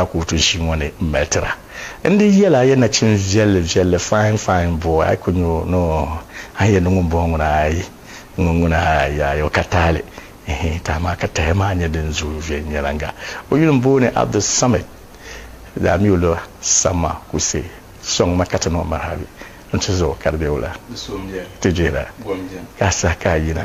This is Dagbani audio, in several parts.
a kootu ʒii ŋɔ ni m-mali ti ba. N di yɛl a ya nachin viɛlli viɛlli, fine fine boy, a ku nya o ni o a yɛn ni ŋun bɔŋɔ ŋuna ayi ŋun ŋuna ayi o ka taali hii ti amaa ka tahi maa nya din zooi viɛnyɛliŋga. O yuli m-booni Abdulsamad daa mi o lo Samma Kuse sɔŋ ma ka ti niŋ marhabi n-ti zuɣu ka di be wula ti jihira ka a saha ka a yina.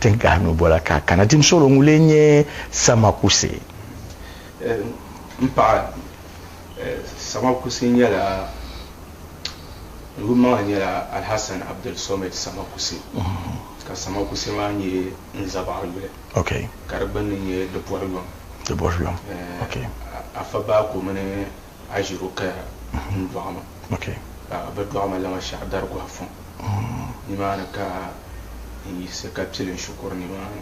Tin gahi nu bola ka a kana tim solo ŋun lee nyɛ Sama Kuse? M paɣa, Sama Kuse nyɛla, ŋun maŋa nyɛla Alhassan Abdul Somed Sama Kuse, ka Sama Kuse maa nyɛ n zabaɣiri yuli, ka di gbunni nyɛ Dibɔruyɔm. Afa Baako mini. a ʒiro kaya n dɔɣi ma, ka bɛ dɔɣi ma lama shɛɣu dari gɔhi fɔŋ. Nimaani ka n yiɣisi ka pili n shikuru nimaani,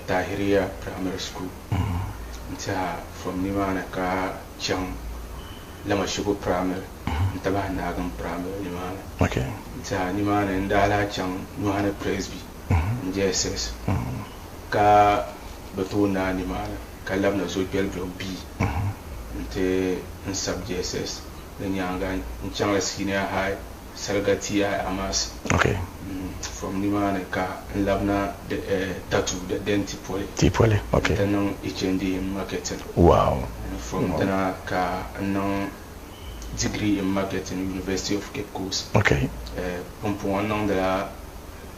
Tahiriya Primary School. N tiɛha fɔm nimaani ka chaŋ Lamashigu Primary nti bahi Naagim Primary nimaani. N tiɛha nimaani n daa lahi chaŋ Nyɔhini Presby, n-JSS. ka bɛ tooi naai nimaani ka labina zo Gbɛlibiɛɣu bia nti n sab JSS di nyaaŋa n-chaŋla Senior High Sariga TI Amas. From nimaani ka n labina Tatu the den ti poli nti niŋ HND in Marketing. From dina ka n niŋ Degree in Marketing University of Cape Coast. Pumpɔŋɔ n niŋdila.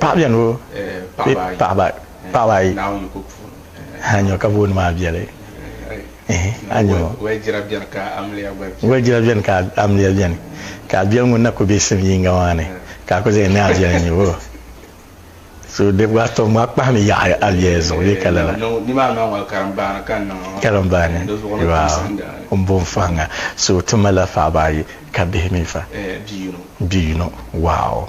Paɣa bɛni o paɣaba ayi a nyɔ ka booni maa viɛli a nyɔ waligira bɛni ka amiliya bɛni ka a biɛli ŋun na ku bɛ sim yiŋga maa ni ka a ku zaŋ ni a viɛli nyɛ o so di gba tom maa kpahimi yaɣi a viɛli zuɣu bee ka lala karimbaani waaw n bo n fahimŋa so ti malila paɣaba ayi ka bihi mi fa bia yino waaw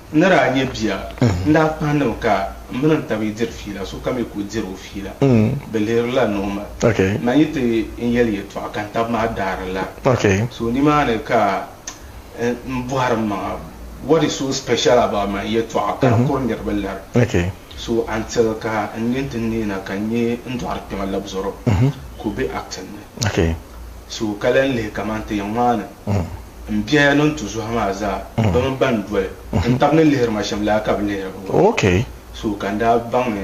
N ni daa nya bia, n daa kpahi ni bɛ ka m mini n taba yi diri fiila, sokam yi ku diri o fiila, bɛ lihirila ni o ma. Naa yi ti n yɛli yɛtɔɣa ka n taba maa daari lari. So nimaani ka n bɔhiri m maŋa, What is so special about my yɛtɔɣa ka di kuri niriba lari? So until ka n nyin ti neei na ka n nya n dɔɣiri kpɛma labzɔro ka o be acting ni. So ka lan lihi kaman ti yɛn ŋmaai ni. M biɛhiya ni n tu zuha maa zaa bɛ mi ban doli n tab ni lihiri ma shɛm laa ka bɛ lihiri bi ŋɔ. So ka n daa baŋ ni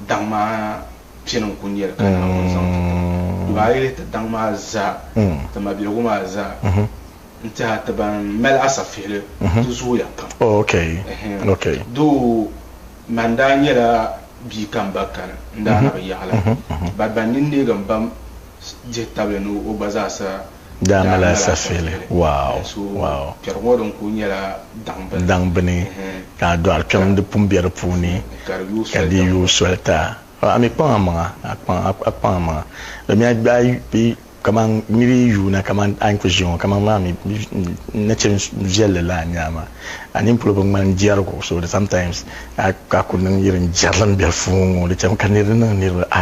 daŋ maa piɛni n-ku nya li ka Naawuni zaŋ ti ti ma. Dama a yi lihi ti daŋ maa zaa, ti mabiligu maa zaa n-tiɛha ti ban mali asafihili ti zooya pam. Doo man daa nyɛla bia ka m ba kani n daa na bi yaɣi la. Ba ban ni neeg m ba dihi tabili ni o gba zaasa. Daa mali asafeeli waaw waaw. Kpɛri ŋɔ din kuli nyɛla daŋ bini. Daŋ bini ka a dɔɣiri kpɛm di pun be di puuni ka di yooi soli ta. A mi kpaŋ a maŋa a kpaŋ a kpaŋ a maŋa di mi a gbaai kaman n mi di yuuna kaman a ni kuli ʒiya ŋɔ kaman maa mi nachin viɛlli laa n-nyɛ a maa a nini polo bi ŋmani jɛrigu so di sometimes a kuli niŋ yiri n-jɛrili m-be puuni ŋɔ di chami ka niriba niŋ niriba a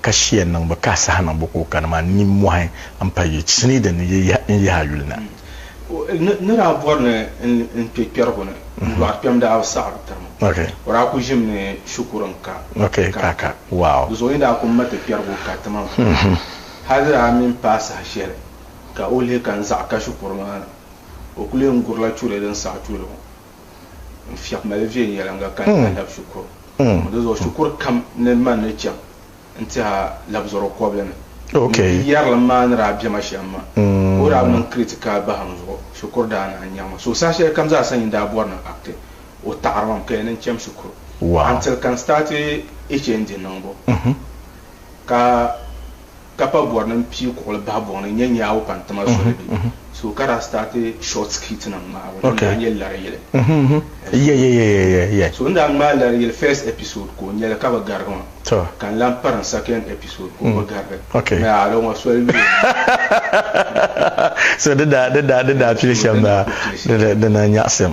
ka shia niŋ bi ka a saha niŋbu ka o kani maa ninmohi n pa yi chinii din ni yi yihi n yihi a yuli na. O ni daa bɔri ni n kpe kpɛrigu ni n dɔɣiri kpɛm daa bi saɣi bi tiri ma. O daa ku ʒim ni shikuru n ka ka ka. Di zuɣu yi daa ku ma ti kpɛrigu ka ti ma maa hali di daa mi n paai saha shɛli ka o lihi ka n zaɣi ka shikuru maa na o ku lee n gurila churi din saɣi churi ŋɔ. n fiɛk mali viɛnyɛliŋga ka n lahi lab shikuru ŋɔ. Di zuɣu shikuru kam ni man ni chaŋ n ti a labzɔr o kɔbili ni. N yi yɛri li maa ni daa bɛma shɛm maa, ka o daa mini Crete kaai bahim zuɣu, shikuru daa naan nyaŋ ma. So saha shɛlikam zaa sa nyin daa bɔri ni n akti, o taɣiri ma, m kaya ni n cham shikuru until ka n staati ichi n di niŋbu. Ka. ka pa bɔrinim pii kuɣili bahi buŋ ni nyɛ nyaawu pa n-tima soli bɛ so ka daa start short skit nim ŋmaabu din daa nyɛ lari yili so n daa ŋmaai lari yili first episode ka o nyɛli ka bi garigi ma ka n lan pari n second episode ka o bi garigi n yaa di ŋɔ soli bɛ so di daa pili shɛm baa di na nyaɣisim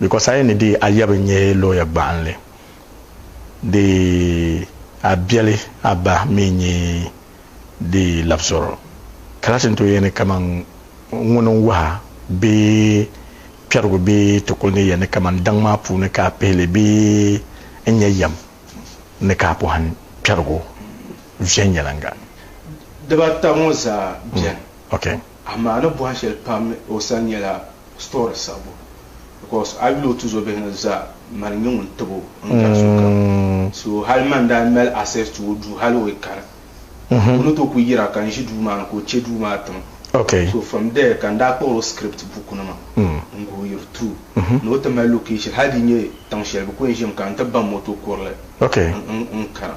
Because a yi ni dii a yabi nyɛ lawyer gbaɣinli dii a biɛli a ba mi nyɛ dii labzoro ka laati n-tooi yɛn ni kaman ŋuni n-wuhi a bee kpɛrigu bee ti kuli ni yɛn ni kaman daŋ maa puuni ka a pihi li bee n-nyɛ yɛm ni ka a pɔhim kpɛrigu viɛnyɛliŋga. Dibata ŋɔ zaa beni. Okay. Amaa ni bɔhi shɛli pam ni o sani nyɛla story sabbu because a yuli o tuzo bihi ni zaa mani nyɛ ŋun tib o n gari sokam so hali mani daa mali access to o duu hali o yi kani o ni tooi ku yira ka n ʒi duu maa ni ka o che duu maa tim so from there ka n daa kpuɣiri o script buku nima n guhi yiri through ni o ti mali location hali di nyɛ tiŋ shɛli bi ku yɛn ʒimi ka n ti ba moto kurili n kana.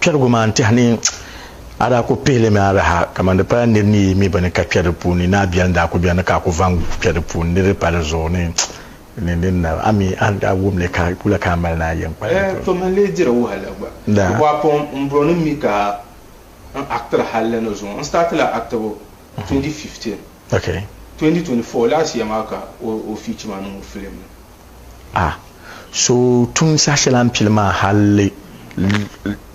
Kpɛrigu maa n tɛhi ni a daa ku pihi li mi araha kaman di pala nir ni yi mi bini ka kpɛri di puuni ni a biɛri n daa ku bɛri ni ka a ku vaŋ kpɛri di puuni ni di pa di zuɣu ni ni ni na a mi a ni daa wum li ka wula ka a mali ni a yɛn kpa li to. Tomi n lee diri wahala gba. Di bɔɣu pɔŋ n bɔri ni n mi ka n actiri halli ni zuŋɔ. N start la actibu 2015, 2024 last year maa ka o feature ma niŋ o film ni. A so tum saha shɛli a ni pili maa hal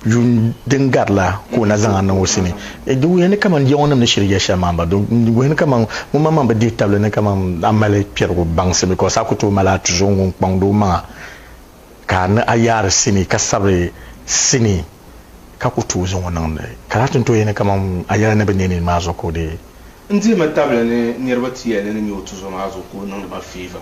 yuun din gari la ka o na zaŋ a niŋ o sini. Di wuhiya ni kaman Jiɔŋnim ni shiri ya shɛm maa m-ba. Di wuhi ni kaman ŋunmaŋmaŋ bi dihi tabili ni kaman a mali kpɛrigu baŋsim bikos a ku tooi mali a tuzo ŋun kpaŋdi o maŋa ka a ni a yaari sini ka sabiri sini ka ku tooi zaŋ o niŋdi ka laati ni tooi yɛli ni kaman a yɛla ni bi neeni maa zuɣu ka o dii N dihimi tabili ni niriba ti yɛli ni nyɛ o tuzo maa zuɣu ka o niŋdi ba favour.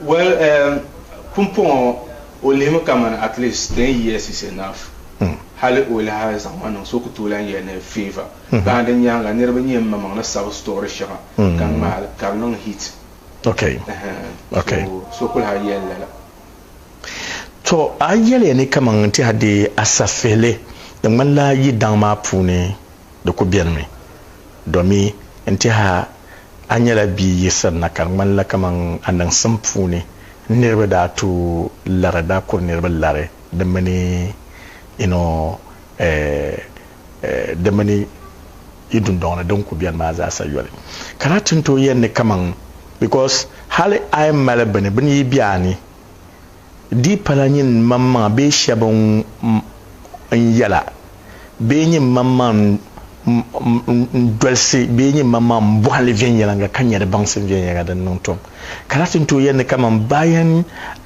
Well eh pumpɔŋɔ o lihimi kamani at least ten years is enough hali o lahi zaŋ ma niŋ so ku tooi lan yɛli ni favour bahi di nyaaŋa niriba nyɛ m maŋmaŋ ni sabi story shɛŋa ka ŋmaali ka di niŋ hit so so ku lahi yɛli lala. To a yɛliya ni kaman n tiɛha deei a safihili di ŋmanila yi daŋ maa puuni. di ku benimi, domi n-tɛha a nyɛla bia yiɣisirina ka di ŋmanila kaman a niŋsim puuni niriba daa tu lari daa kuri niriba lari di mini you know eh di mini yi dundɔŋ ni din ku beni maa zaasa yoli. Ka daa ti n-tooi yɛli ni kaman because hali a yi mali bini, bini yi be a ni Di pala nyin maŋmaŋa bee shɛb n yɛla bee nyin maŋmaŋ n dolsi bee nyin maŋmaŋ n bɔhindi viɛnyɛliŋga ka nya di baŋsim viɛnyɛliŋga din niŋ tom. Ka lahi tin tooi yɛli ni kaman baa yɛn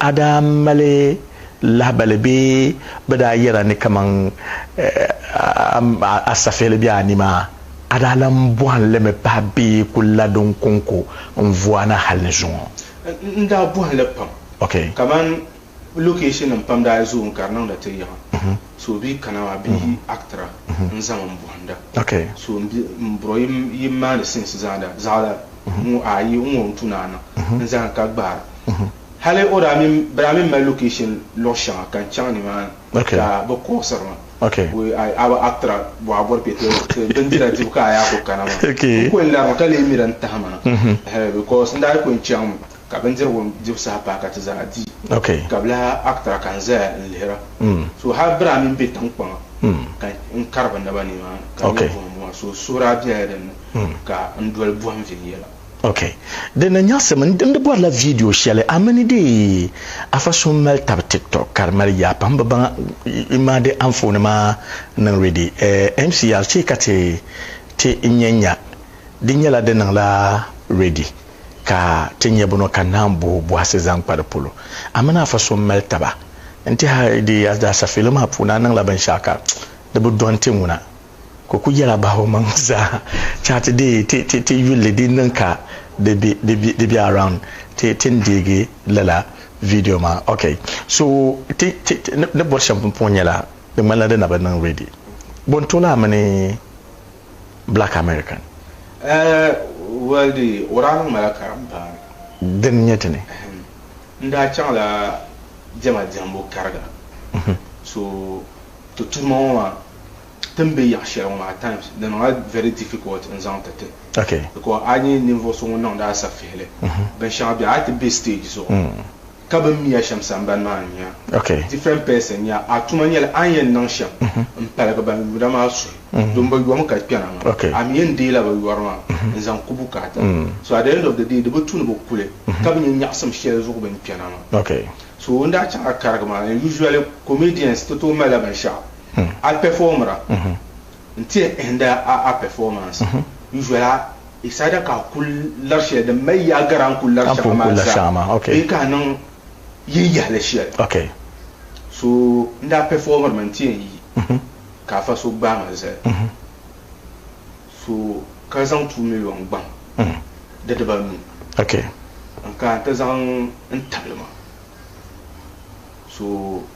a daa mali lahibali bee bɛ daa yɛra ni kaman a safihili be a ni maa, a daa lan bɔhim li mi pahi bee ku la din kɔŋko n-vu a na hal ni zuŋɔ. N daa bɔhi li pam kamani lokeeshinim pam daa zooi ka di niŋda ti yiɣi so bɛ kana maa bɛ yi akitira n-zaŋ m bɔhinda so m bro yi maani sinsi zaanda zaɣila ŋɔ ayi n ŋɔ n-tu ni a niŋ n zahim ka gbaara hali o daa mini bɛ daa mi mali lokeeshin luɣ shɛŋa ka n chaŋ nimaani ka bɛ kɔɣisiri ma. A bi aktira bɔɣa bɔri kpe ti bindira dibu ka a yaa kuli kana maa. N kuli lari mi ka lee miri n tahi ma ha because n daa yi kuli chaŋ mi ka bindirigu dibu saha paai ka ti zaa di ka bi lahi aktira ka n zaya n lihira. So hali biri a mini be tiŋkpaŋa ka n kari bɛ naba ni maa ka n nyɛ buɣim buɣima so suhuri a bela din ni ka n doli buɣim viɛnyɛla. Ok, di na nyaɣisim n di bɔrila vidiyo shɛli a mini deei afa so mali tabi tiktok ka di mali yaa pam bi baŋa n maa di anfooni maa niŋ ready eh MCR chɛ ka ti ti n nya nya di nyɛla di niŋla ready ka ti nya bɔnɔ ka naan bo bɔhisi zaŋ kpa di polo a mini afa so mali taba n tihi a deei a daasafeelo maa puuni a niŋla binshɛɣu ka di bi dɔnti ŋuna. ka o ku yɛla bahibumaŋ zaa chaŋ ti deei ti yulli din niŋ ka di be around ti ti ni deegi lala video maa ok so ti ni bɔri shɛm pumpɔŋɔ nyɛla di ŋmanila di na bi niŋ ready bɔ n tooi a mini black American Well di o daa niŋ ma la karim paani. Din nyɛ ti ni. N daa chaŋ la diɛma diɛmbu kariga so ti tuhi ma ŋɔ maa. ti ni be yaɣ shɛli ŋɔ at times di niŋla very difficult n zaŋ ti ti because a nya ninvuɣ so ŋun niŋdi a safihili binshɛŋa bɛ a ti be stage zuɣu ka bɛ ni mi a shɛm sambani maa n nya different person nya a tuma nyɛla a ni yɛn niŋ shɛm n paligi ban yuuna maa suhi domi bɛ yom ka kpɛna maa a mi yɛn deei la bɛ yori maa n zaŋ ku bukaata so at the end of the day di bi tu ni bɛ kuli ka bi nya nyaɣisim shɛli zuɣu bɛ ni kpɛna maa so n daa chaŋ a karigi maa and usually comedians ti tooi mali la binshɛɣu a pɛfɔɔmira nti hindi a pɛfɔɔmansi yu'la isaada ka a kul lari shɛli din mali yaa gari a ni kul lari shɛŋa maa zaa bee ka a niŋ yin yahili shɛli. So n daa pɛfɔɔmirimi nti yɛn yi ka afa so gbaai ma zali so ka zaŋ two miliɔn gbaŋ di dibaanu n-kana nti zaŋ n tabili ma so.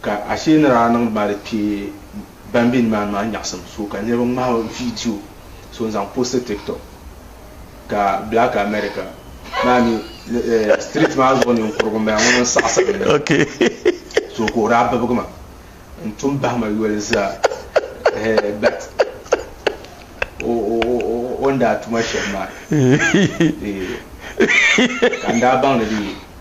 Ka ashee ni daa niŋ ba di kpee ban be nimaani maa nyaɣisim so ka niriba ŋmahi o viidiyo so n-zaŋ poosti TikTok ka Black America maa mi street maa zuɣu ninkurugu m-bala ŋun n saɣisiri ni so ka o daa bibigi ma n-tum bahi ma yoli zaa hee but o ni daa tuma shɛm maa ka n daa baŋ ni di yi.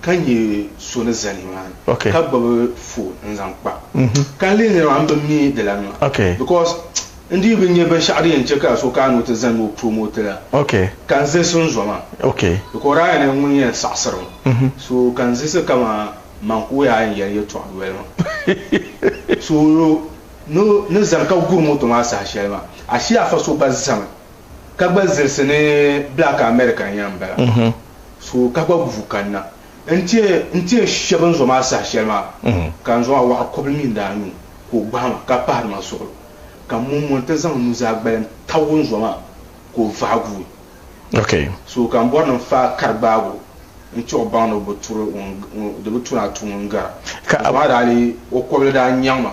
ka nyɛ so ni za nimaan ka gbubi foon n zaŋ kpa ka n lihiri maa n bi mi di la nima because n dii bi nyɛ binshɛɣu din yɛn che ka so kana ni o ti zani ni o promote la ka n zilisi n zoma because daa yɛn ŋun yɛn saɣisiri mi so ka n zilisi ka maa man ka o yaa yɛn yɛli yɛltɔɣa noli maa so ni zani ka guri moto maa saha shɛli maa ashee afa so gba zami Ka gba zilisi ni black American yan bala so ka gba guvu kanna nti nti shɛba n zoma saha shɛli maa ka n zoma waɣa kɔbili mi daa nyu ka o gbahi ma ka pahiri ma suɣulo ka mum ŋɔ nti zaŋ nuzaa gbalim tab o n zoma ka o vahi guui so ka n bɔri ni n faai kari gbaag o n ti o baŋ ni o bi turi o di bi tu ni a tu ŋun gara n zoma daa lee o kɔbili daa nyaŋ ma.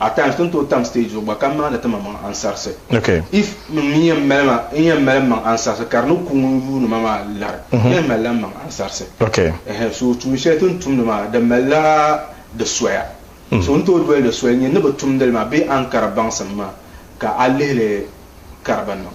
at times tin tooi tam stage zuɣu gba ka maani ti maŋmaŋ ansarisi. If min mi yɛn mali ma n yɛn mali n maŋ ansarisi ka di ni ku ŋun yuuni ma maa lari, n yɛn mali la n maŋ ansarisi. Ɛhɛn so tuun shɛli ti ni tumdi maa di mali la di soya. So ni tooi doli di soli n-nyɛ ni bi tumdi li maa bee a ni kari baŋsim maa ka a lihili ka di bi niŋ.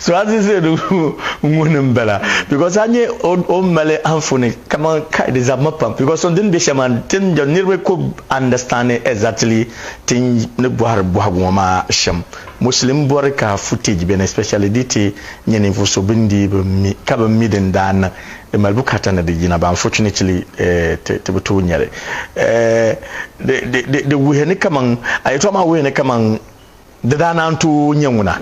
so a zizɛ di ŋuni n bala because a nyɛ o mali anfuni kaman kai di zabimi pam because so dini bɛ shɛm maa tin jɛm niriba ku understand exactly tin ni bɔhiri bɔhigu ŋɔ maa shɛm Muslim bɔri ka footage beni especially di ti nyɛ ninvuɣu so bini dii bi mi ka bi mi din daa niŋ Di mali bukaata ni di yina but unfortunately ti bi tooi nya li. Di wuhiya ni kaman, a yɛltɔɣa maa wuhiya ni kaman di daa naan tooi nya ŋuna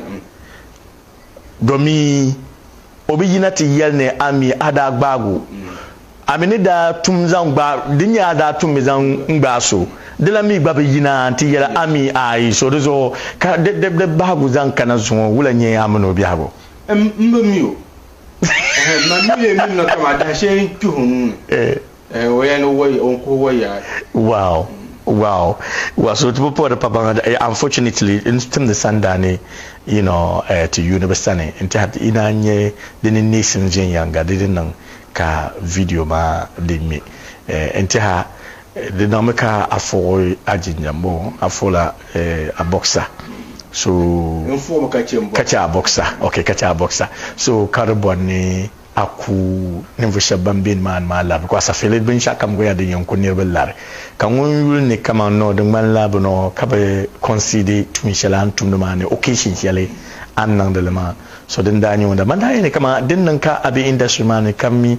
domin o bi yina ti yɛli ni a mi a daa gbaag o. A mi ni daa tum zaŋ gbaag, din nyɛ a daa tummi zaŋ n-gbaag so, di lan mi gba bi yina nti yɛli a mi aai. So di zuɣu ka di bahigu zaŋ kana zuŋɔ wula n-nyɛ a mini o biɛhigu? M bi mi o. Mani mi lee minina kam a dahi shɛli n-kpih o nuu ni, o yɛn ni kuhi o yaai. Wow wow wow so ti bi puhi di pa baŋa di unfortunately n timdi sandaa ni you know ti yuuni bi sani n tɛha ti yi naan nyɛ di ni neesim viɛnyɛŋga di ni niŋ ka video maa di ŋme n tɛha Di niŋmi ka a fuɣi a jinjam bɔŋɔ, a fuɣila a bɔɣisa so ka chɛ a bɔɣisa ok ka chɛ a bɔɣisa so ka di bɔri ni a ku ninvuɣ shɛb bɛn be nimaani maa lari bikɔs a fili binshɛɣukam gɔya din yɛn ku niriba lari ka ŋun yuli ni kaman nɔ di ŋmanila bɛ nɔ ka bi kɔnsidi tuun shɛli a ni tumdi maa ni occasion shɛli a ni niŋdi li maa so din daa nyɛ ŋun daa man daa yɛli ni kaman din niŋ ka a be industry maa ni ka mi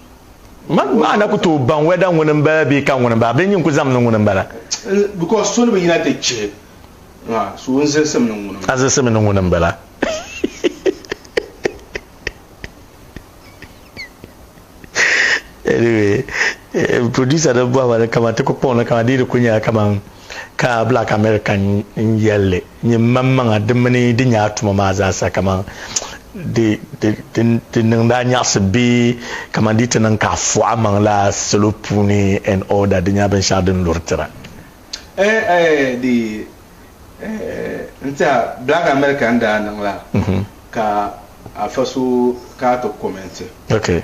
Maa na ku tooi baŋ wɛda ŋuni m-bala bee ka ŋuni m-bala, bee nyin ku zami ni ŋuni m-bala. Because so ni bi yina ti chihi ŋa, so n zilsim ni ŋuni m-bala. A zilsimi ni ŋuni m-bala. Anyway, producer nim bɔhima ni kaman ti ku kpuɣi li kaman di yi di ku nyɛla kaman. Ka Black American n-yɛlli, Nyɛ m-mam maŋa di mini di nyaa tuma maa zaa sa kaman di niŋ daa nyaɣisi bee kaman di yi ti niŋ ka a fuɣ a maŋ la salo puuni and all that di nyɛla binshɛɣu din luri tira. Eh eh di eh n-tiɛha Black American daa niŋ la ka afa so ka a ti comment. Okay.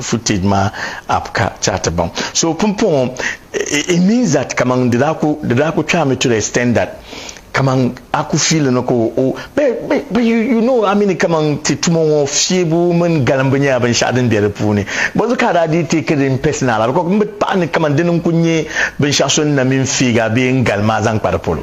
footage maa app ka ti a ti baŋ so pumpɔŋɔ it means that kaman di daa ku di daa ku kpɛhimi to the extent that kaman a ku fiili ni ka o o but you you know I mean kaman ti tuma ŋɔ fiebu mini galimbu nyɛla binshɛɣu din be di puuni bɔzu ka a daa dii take din personal la because m bi paɣi ni kaman dini n ku nyɛ binshɛɣu so ni na mini feega bee n galima a zaŋ kpa di polo.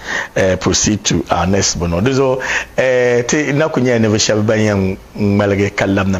eh, proceed to our next bono di zuɣu eh, ti na ku nyɛla ninvuɣu shɛba ban yɛn ŋmaligi ka labina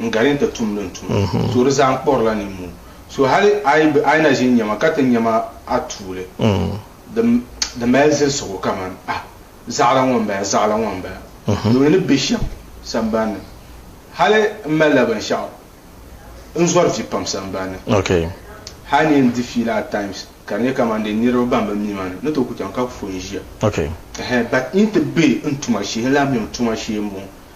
n gari n ti tum din tum so di zaa n kpɔrila ninmoo so hali a yi na ʒini nyɛma ka ti nyɛma a tuuli di mali zilisigu kamani ah zaɣila ŋɔ n bala zaɣila ŋɔ n bala doo ni be shɛm sambani ni hali n malila binshɛɣu n zɔri vi pam sambani ni hali ni yɛn di fiila at times ka di nyɛ kamani dee niriba ban bi mi ma ni ni tooi ku chaŋ ka ku fo n ʒiya but n yi ti be n tuma shee n lahi mi n tuma shee m-bɔŋɔ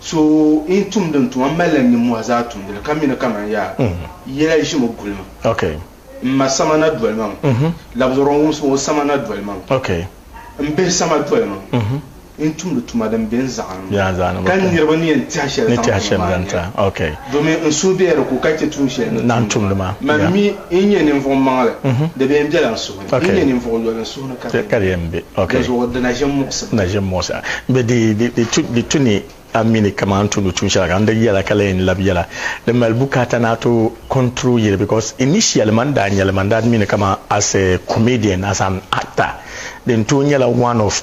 So in tumdi n tuma, m mali la nimmɔhi zaa tumdi li, ka mi ni kaman yaa yɛla yi ʒimi guli ma. M ma sama na doli ma ŋɔ, labisɔro ŋumsi ŋɔ sama na doli ma ŋɔ, m bihi sama doli ma ŋɔ, n tumdi tuma din be n zaɣa ni ŋɔ, ka niriba ni yɛn tɛha shɛli zaŋ ti ma maa n-nyɛ li, domin n suhu be di ko ka chɛ tuun shɛli ni tumdi maa. Man mi n nyɛ ninvuɣ maŋli, di bi yɛn bela n suhu ni. Di ni nyɛ ninvuɣ yoli n suhu ni ka di yɛn be, dinzuɣu di na ʒe m-muɣisi a. Bɛ di tu ni a mi ni kaman a ni tumdi tuun shɛli ka n di yɛla ka lan yɛn lab yɛla. Di mali bukaata ni a ti control yili because initially man daa nya li man daa mi ni kaman as a comedian, as an actor din tooi nyɛla one of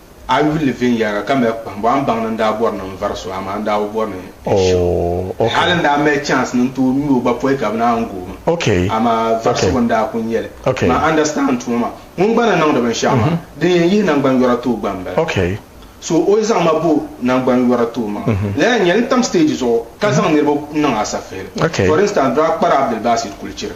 A yuli ni viɛnyɛliŋga ka mali kpahimbu, a ni baŋ ni n daa bɔri ni n vari so, amaa n daa bi bɔri ni n ʒi o. Hali n daa mali chance ni n tooi ŋme o gba pɔi ka bɛ naan n gooi ma, amaa varisigu n daa kuli nyɛ li. Maa understand tuma maa. Ŋun gba ni niŋdi binshɛɣu maa, din yɛn yihi naŋgban'yɔra tooi gba m-bala. So o yi zaŋ ma bo naŋgban'yɔra tooi maa, lala n-nyɛ ni tam stage zuɣu ka zaŋ niriba niŋ asafihili. For instance, Dr. Kpara Abdul Basit Kulichiri.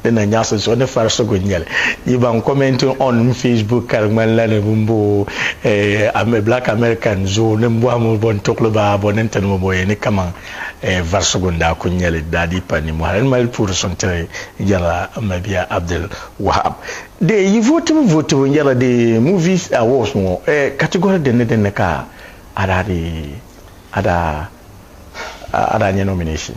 Di na nyaɣisi zuɣu ni farisigu n-nyɛ li. Yi baŋ commenting on m Facebook ka di ŋmani la ni bɛn bo o Black American zoo ni m-bɔhi mi o bɔ n-tuɣili ba a bɔ ni n-tiri mi ba o yɛn ni kaman varisigu n-daa kul nyɛ li. Di daa dii pali nimmɔhi. Di mali puuri suŋ tiri n yɛrila m ma bia Abdul Wahab. Dee yi vootibu vootibu n yɛrila di movies awards ŋɔ category din ni din ni ka a daa dii a daa a daa nyɛ nomination?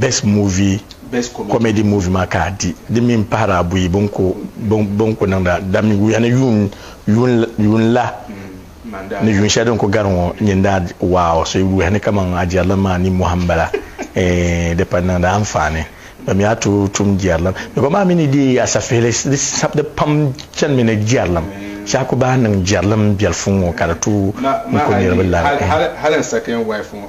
Best movie, comedy movie maa ka a di. Di mi m-pahiri abuyi bɛ ni ku niŋda damyuya ni yuun la ni yuun shɛli din ku gari ŋɔ nyin daa di. Wow! So yi wuhi ni kaman a jɛrilim maa nimmɔhi m-bala, eeh, di pali niŋdi anfaani. Bɛ mi a tooi tum jɛrilim. Bikɔm maa mi ni deei a safihili, di pam chanimi ni jɛrilim. Shee a ku baai niŋ jɛrilim biɛlifu ŋɔ ka di tooi n-ku niriba lari. Hali n second wife ŋɔ,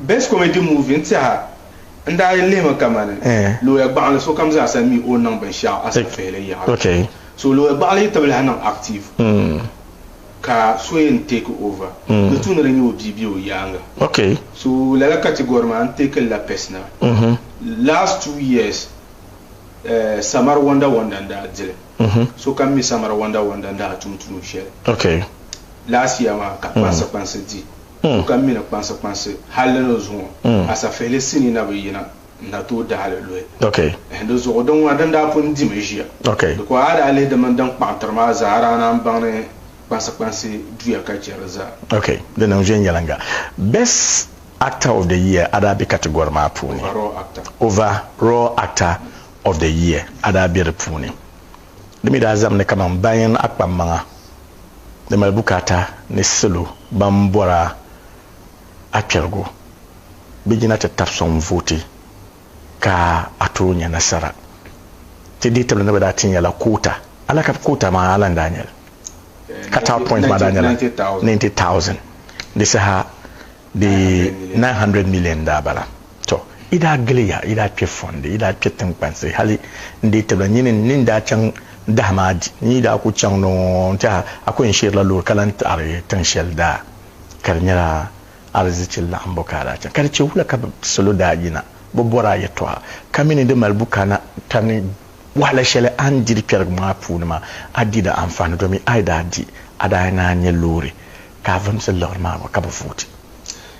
Best comedy movie n tiɛha n daa yi lihimi kamani looya gbaɣinli sokam zaa sa mi o ni niŋ binshɛɣu asafihili yaɣili so looya gbaɣinli yi tibilahi niŋ active ka so yɛn take over di tu ni di nyɛ o bia bɛ o yaaŋa so lala category maa n take lila personal last two years samari wonder wonder n daa dili sokam mi samari wonder wonder n daa tum tuun shɛli last year maa ka kpansi kpansi di so ka mi ni kpansi kpansi hal di ni zuŋɔ, asafihili sinii na bi yina n-na tooi dahi li luhi. Di zuɣu di ŋuna din daa pun dimi ʒiya, di ko a daa lihi di mini din kpaŋtiri maa zaa, a daa naan baŋ ni kpansi kpansi duya ka chɛ di zaa. Ok, di niŋ viɛnyɛliŋga. Best actor of the year a daa be category maa puuni. Overall actor. Overall actor of the year a daa be di puuni. Di mi daa zamdi kaman bayaŋ akpammaŋa ni mali bukaata ni salo ban bɔr a akpɛrigu bɛ yina ti tab sɔŋ vooti ka a tooi nya nasara. Ti dihi tibili ni bɛ daa ti nya la koota. A lahi ka koota maa a lan daa nya li. Cut-out point maa daa nyɛla ninety thousand di saha di nine hundred million n-daa bala. Tɔ! Yi daa gili ya, yi daa kpe fɔndi, yi daa kpe tiŋkpansi, hali n-deei tibila nyin ni ni daa chaŋ dahi maa di. N yi daa ku chaŋ ni ŋɔ n-tɛha, a ku yɛn sheerila loori ka lan ti a di tiŋ shɛli daa ka di nyɛla arizichi laɣimbu ka a daa chaŋ. Ka di chɛ wula ka bɛ salo daa yina bɛ bɔri a yɛtɔɣa ka mi ni di mali bukana ka ni wahala shɛli a ni di di kpɛrigu maa puuni maa, a di di anfaani domin a yi daa di, a daa yɛn naan nyɛ loori ka a vumsi liɣiri maa gba ka bi vooti.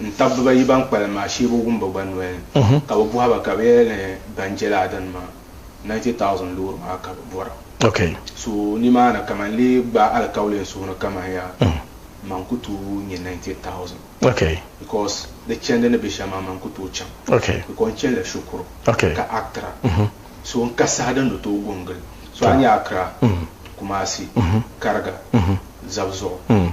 N taba bibayi ban kpalim maa shee bi wum ba gba noli ni ka bi bɔhi ba ka bɛ yɛli ni ban je lala dini maa 90,000 loori maa ka bɛ bɔra. So nimaani ka man lee gbaai alikauli n suhuni ka man yaa man ku tooi nya 90,000 because di chandi ni be shɛm maa man ku tooi chaŋ because n chanila shikuru ka Accra so n ka saha din di tooi go n gili so a nya Accra, Kumasi, Kariga, Zabuzuɣu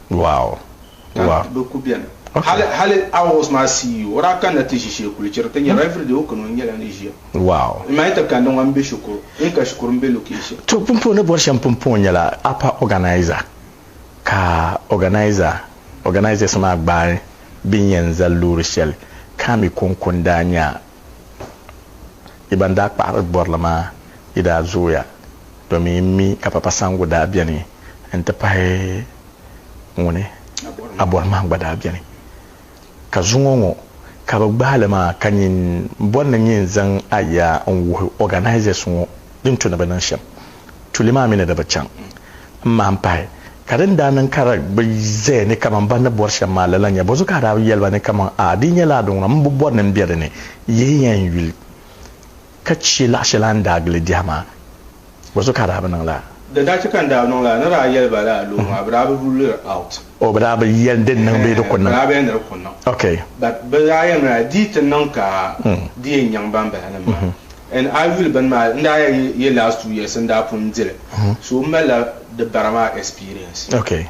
Wow! Wow! Ka bɛ ku beni. Hali, hali August maa CEO, o daa kanila ti ʒi shee kuli chiri ti niriba. Every day o kani o ni nyɛla ni ʒiya. Wow! N ma yi ti kandi ŋɔ, m-be shikuru. N ka shikuru, m-be location. To, pumpɔŋɔ ni bɔri shɛm pumpɔŋɔ nyɛla upper organiser, ka organiser, organisers maa gbaai bɛ yɛn zali loori shɛli ka mi kɔŋko n-daa nya Yi ban daa kpahiri bɔrili maa yi daa zooya domin yi mi ka Papa Sango daa beni n-ti pahi ŋuni Abɔrimaŋ gba daa beni. Ka zuŋɔ ŋɔ ka bɛ gbaai li maa ka nyin bɔri ni nyin zaŋ aya n-wuhi organisers ŋɔ din tu ni bɛ niŋ shem. tuli maa mi ni di bi chaŋ m-mahim pahi, ka din daa niŋ ka di bi zaya ni kaman bɛ ni bɔri shɛm maa lala n-nyɛ, bɔzu ka a daa bi yɛli ba ni kaman, A, di yi nyɛla a duŋ na, m bi bɔri ni m be di ni, yihi ya n yuli ka chɛ laɣ shɛli a ni daa gili biɛhi maa? Bɔzu ka a daa bi niŋ lala? Di daa chɛ ka n daa niŋ lala, ni daa yɛli ba lala luɣ maa, bɛ daa bi rule it out. O bi daa bi yɛli di niŋ bee di ku niŋ. Bi daa bi yɛli ni di ku niŋ. Ok. But bi daa yɛli mi daa di yi ti niŋ ka di yɛn nyaŋ ban bala nim maa. And a yi yuli bini maa n daa yɛ last two years n daa pun di li. So m malila di bara maa experience. Ok.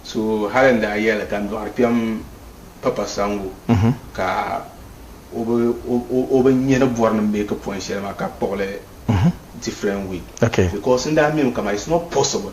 So hali n daa yɛli ka n dɔɣiri kpɛm Papa Sango ka o bi nya ni bɔri ni make point shɛli maa ka kpuɣi li different way. Ok. Because n daa mi mi ka maa it's not possible.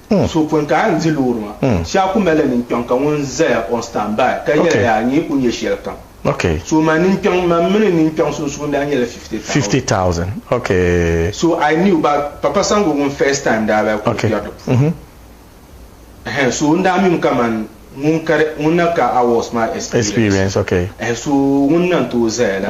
So pun ka a ni di loori maa, shee a ku mali ninkpɛŋ ka ŋun zaya on stand by ka yɛli yaa nyɛ yi ku nyɛ shɛlikam. So ma ninkpɛŋ, man mi ni ninkpɛŋ sunsuuni daa nyɛla fifty thousand. So I knew ba Papa Sango ŋun first time daa bi ku kpɛri di puuni. Ɛhɛn so n daa mim kaman ŋun kari ŋun na ka hours maa experience. Ɛhɛn so ŋun na n-tooi zaya la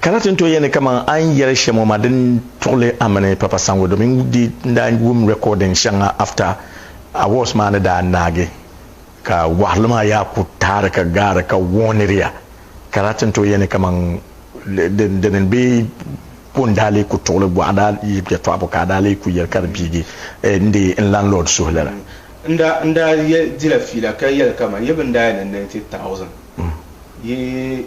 Ka na ti ni tooi yɛli ni kaman a ni yɛli shɛm ŋɔ maa di ni tuɣili a mini Papa Sango domin n di n daa wum recording shɛŋa after awards maa ni daa naagi ka waɣiri li maa yaa ku taari ka gaari ka warniri ya ka daa ti ni tooi yɛli ni kaman di ni be ko n daa lee ku tuɣili gɔɣa daa yi yɛtɔɣibu ka a daa lee ku yɛli ka di piigi n di n landlord suhu lala. N daa n daa dila fiila ka yɛli kaman yi bi ni daa yɛli ni ninety thousand yi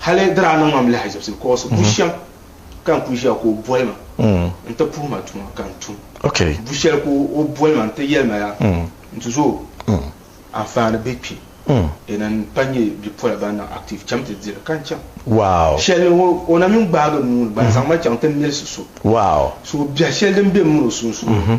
Hali di daa niŋ ma m-lahaʒibisi kɔɣisi bu shɛm ka n kul ʒiya ka o boli ma nti puhi ma tuma ka n tum. Bu shɛli ka o boli ma nti yɛli ma yaa nti zo anfaani be kpi di ni n-pa nyɛ bipola ban niŋ active cham ti di li ka n chaŋ. Shɛli ni o na mi n-gbaagi n nuu ni gba n zaŋ ma chaŋ ti milisi so so biɛhi shɛli din be m mini o sunsuuni.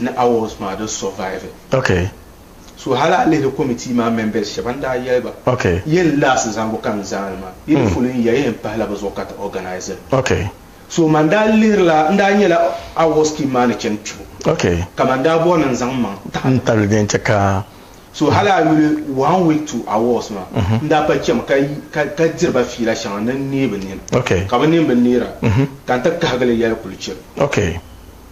ni awards maa di survive. Ok. So hali a lihiri committee maa members shɛba n daa yɛli ba Ok. yɛn last zaŋbu ka n zaani maa yi di fuli n ya ya yɛn pahila bɛ zuɣu ka ti organise li. Ok. So man daa lihirila n daa nyɛla awards scheme maa ni chani kpibu Ok. ka man daa bɔri ni n zaŋ m maŋ n taɣili. Tabili di yɛn chɛ ka. So hali a yuli one week to awards maa n daa pa chami ka ka ka diri ba fiila shɛŋa ni n neei bɛ nini Ok. ka bɛ nini bi neera ka n ti kahigili yɛli kuli chɛ. Ok.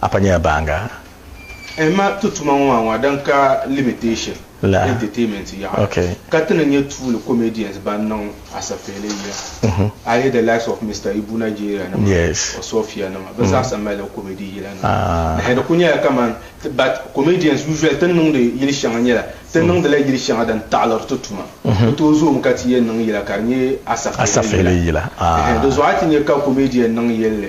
Apa nyɛla baaŋa. Ehima ti tuma ŋɔ maa ŋɔ din ka limitation, entertainment, yaɣa ka ti ni nyɛ tuuli comedians ban niŋ asafeele yiya ayi the likes of Mister Ibu Nigeria nima or Sophia nima bɛ zaasa malila comedy yila nima nahi di kuli nyɛla kaman ti but comedians usually ti ni niŋdi yili shɛŋa nyɛla ti niŋdila yili shɛŋa din taɣiliri ti tuma bɛ tooi zoomi ka ti yɛn niŋ yila ka di nyɛ asafeele yila ehe di zuɣu a ti nyɛ ka comedian niŋ yɛlli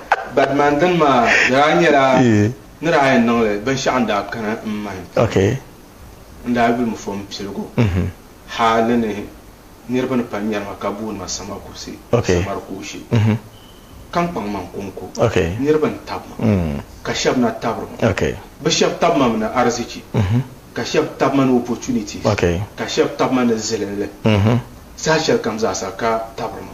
Badman dini maa daa nyɛla ni daa yɛn niŋli binshɛɣu n daa kana n mind puuni n daa yuli mi fo n piligu hali ni niriba ni pali nyari ma ka booni ma Samar Kursi, Samar Kuushi, ka n kpaŋ man konko niriba n tabi ma ka shɛba na tabiri ma bi shɛba tabi ma mi ni arizichi ka shɛba tabi ma ni opportunities ka shɛba tabi ma ni zilinli saha shɛlikam zaasa ka tabiri ma.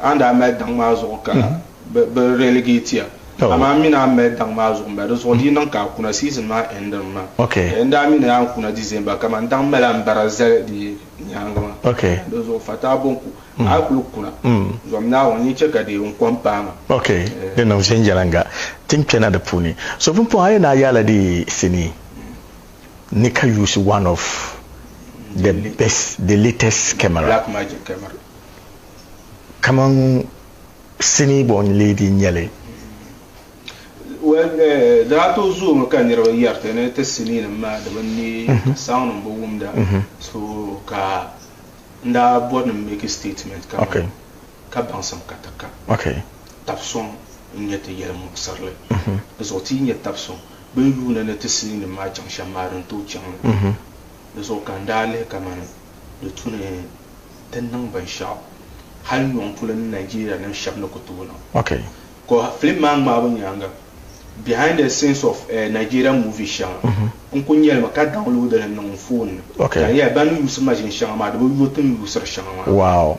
A ni daa mali daŋ maa zuɣu ka bɛ relegate ya, amaa m mi ni a ni mali daŋ maa zuɣu m-bala. Di zuɣu di yi niŋ ka a kuna, season maa endimi maa. N daa mi ni a ni kuna December, kaman daŋ mali a ni bara zali di nyaaŋa maa. Di zuɣu Fataa Bonku, a yi kul kuna, zom Naawuni, n ni chɛ ka di kom paai ma. Ok, di niŋ viɛnyɛliŋga. Ti ni kpɛna di puuni. So pumpɔŋɔ a yɛn daa yaala di sinii ni ka yuusi one of the best, the latest camera. Blackmagic camera. kaman sinii born lady n-nyɛ li. Well, daa tooi zoomi ka niriba yɛri ti ni ti siniinim maa di bi neei ka soundnim bi wumda so ka n daa bɔri ni m make statement ka man ka baŋsim ka ti ka tab sɔŋ n-nyɛ ti yɛli muɣisirili. Di zuɣu ti yi nya tab sɔŋ bɛ ni yuuni ni ti siniinim maa chaŋ shɛm maa din tooi chaŋ li di zuɣu ka n daa lihi kaman di tu ni ti niŋ binshɛɣu hali nyɔŋ polo ni Nigeria nim shɛb ni ku tooi niŋ. Okay. Ka film maa ŋmaabu nyaaŋa behind the scenes of eh, Nigerian movies shɛŋa n ku nyɛli mi ka download li niŋ n phone ni. Okay. Ka n yɛli ban ni yuusiri maʒini shɛŋa maa di bi yo ti ni yuusiri shɛŋa maa. Wow.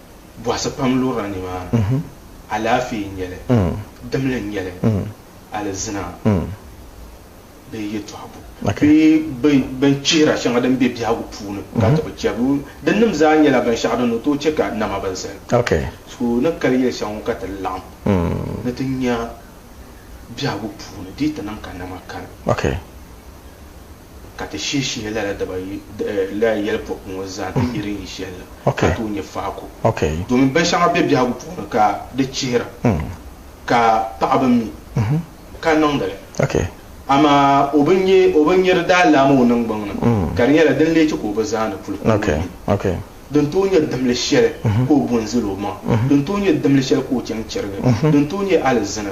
Bɔhisi pam lurila nimaani. Alaafee n-nyɛ li, dimli n-nyɛ li, alizina bee yɛtɔɣ bu bee bɛn chihira shɛŋa din be biɛhigu puuni ka ti bi chɛ bɛ dinnim zaa nyɛla binshɛɣu din ni tooi chɛ ka nama bi zali. So ni kali yɛli shɛŋa ŋɔ ka ti laɣim ni ti nya biɛhigu puuni dii ti niŋ ka nama kani. ka ti shih shihi lala daba yi, eh, lala yɛlipɔku ŋɔ zaa nti yi din yi shɛli la, ka tooi nyɛ faaku. Domin binshɛŋa be biɛhigu puuni ka di chihira, ka paɣa bi mi, ka niŋdi li. Amaa o bi nya, o bi nya di daa laami o niŋgbuŋ ni, ka di nyɛla din lee chɛ ka o bi zaani puli ka o bi nya din tooi nyɛ dimli shɛli ka o bo n-zali o maŋa, din tooi nyɛ dimli shɛli ka o chaŋ chɛrigi, din tooi nyɛ alizini.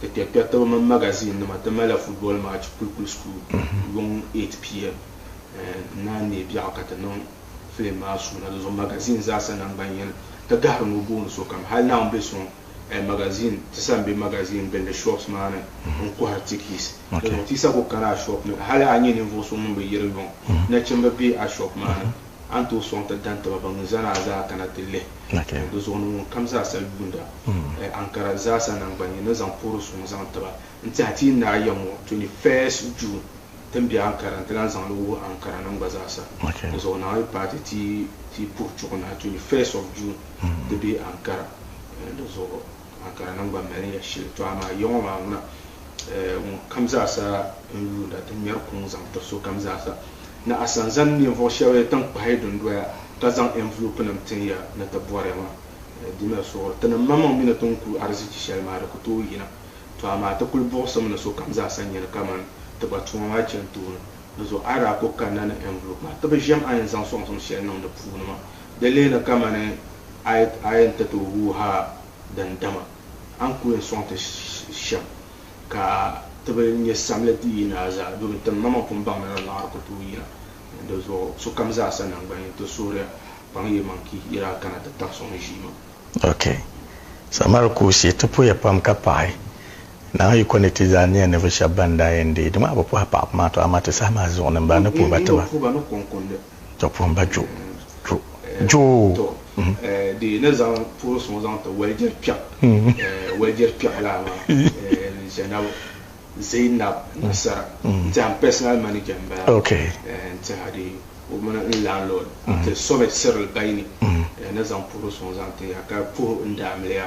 ti kpɛrikpɛritiba mini magaziinnima ti malila football match Kulikuli School yuŋ 8 pm. N naan neei biɛɣu ka ti niŋ filim maa suuna. Di zuɣu magaziin zaasa naŋgban yini ti gahiri ni o booni sokam. Hali Naawuni be suŋ magaziin ti sa m-be magaziin gbilli shops maa ni n-kɔhiri tikiis. Di zuɣu ti yi sa ku kani a shop ni hali a nyɛ ninvuɣ so ŋun bi yiri yuŋ, nachimba be a shop maa ni. a ni tooi sɔŋ ti daŋ taba ban mi zani a zaa kana ti lihi o di zuɣu ni ŋunkam zaa sal yuunda ɛ Ankara zaasa naŋgbanni ni zaŋ puhiri suŋ zaŋ tiba. N tiɛha ti yi naai ya ŋɔ 21st June ti ni be Ankara n ti lan zaŋ li wuhi Ankara nim gba zaasa. Di zuɣu naai yi paati ti yi puhi chuɣu naai 21st of June ti be Ankara di zuɣu. amaa ka di niŋ ba mali ya shili. Tɔ amaa yiŋɔ maa ŋuna, eh, ŋunkam zaasa n-yuunda ti ŋmɛri kuŋ zaŋ tiri sokam zaasa. Ni a san zani ninvuɣ shɛb tiŋkpahi dundoya ka zaŋ ɛnvulopinim tin ya ni ti bɔri ya maa, eh, di mali suɣuri. Ti niŋmaŋmaŋ mi ni ti ni ku arizichi shɛli maa, di ku tooi yina. Tɔ amaa ti kul buɣisim ni sokam zaasa n-nyani kaman ti gba tuma maa chani tooni. Di zuɣu a yi daa ku kanna ni ɛnvulopi maa, ti bi ʒiɛm a ni zaŋ sɔŋsim shɛli niŋ di puuni maa. Di leeni kamani a yi ni ti tooi wuhi a din dama a ni ku yɛn sɔŋ ti shɛm ka ti bi nyɛ samli ti yi naa zaa domin ti mama pun baŋmi ni liɣiri ku tooi yina. Di zuɣu sokam zaa sa naŋgban ni ti suhiriya kpaŋ yimaŋ ki yi daa kana ti tabi sɔŋ ʒiima. Ok. Samar kuusi ti puhiya pam ka paɣi Naa Yiko ni ti zaa niya ninvuɣu shɛba ban daa yɛn deei di maa bi puhi paɣaba maa to amaa ti saha maa zuɣu ni m ba ni puhi ba ti ba. Tɔ puhim ba jo, jo, jo. Tɔ, di yi ni zaŋ puhiri suŋ zaŋ ti walijɛri kpɛɣu, walijɛri kpɛɣu laa maa n ʒɛnabo Zainab Nasara n-ti a n personal manager m-bala n-ti a di o mini n landlord n-ti Somed Cyril Baini n-ni zaŋ puhiri suŋ zaŋ ti a ka puhi n daamiliya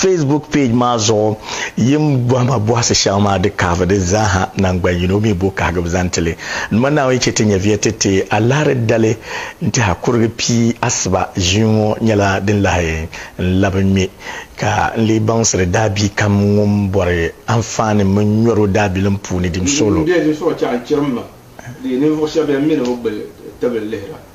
Facebook page maa zuɣu yim bɔhima bɔhisi shɛŋa maa di kahivi di zaaha naŋgban yino mi bo kahigibu zaŋ ti li. N ma Naawuni yi chɛ ti nyɛviya ti ti a liɣiri dali n-tɛha kurigi pii asiba ʒii ŋɔ nyɛla din lahi n-labi ŋme ka n lee baŋsiri daabiikam ŋun bɔri anfaani mini nyɔro daabilim puuni dim suɣilo. N bɛ zuɣusoɣu chɛɣu n-chɛri m ma di ninvuɣ shɛb bɛn mi ni bɛ gbuli tibili lihira.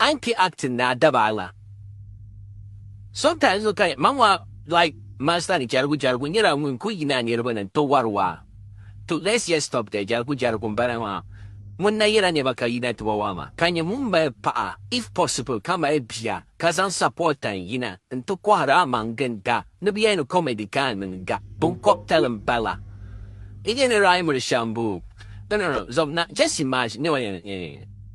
An kpi acting ni a daba a ŋa. Sometimes n kani ma mɔɣu like master ni jarigu jarigu nyɛla ŋun kuli yina a niriba ni n ti wari waa to let's just stop there jarigu jarigu n bala maa ŋun na yɛla nɛba ka yina ti wa waa maa ka nyɛ ŋun mali paɣa if possible ka mali bia ka zaŋ support tan yina n ti kɔhiri a maŋ ginda ni bɛ yɛli ni comedy ka a niŋ ga binkɔbitali n bala n yɛli rhyme li shɛm boo no no no zɔbina just imagine nɛma yɛn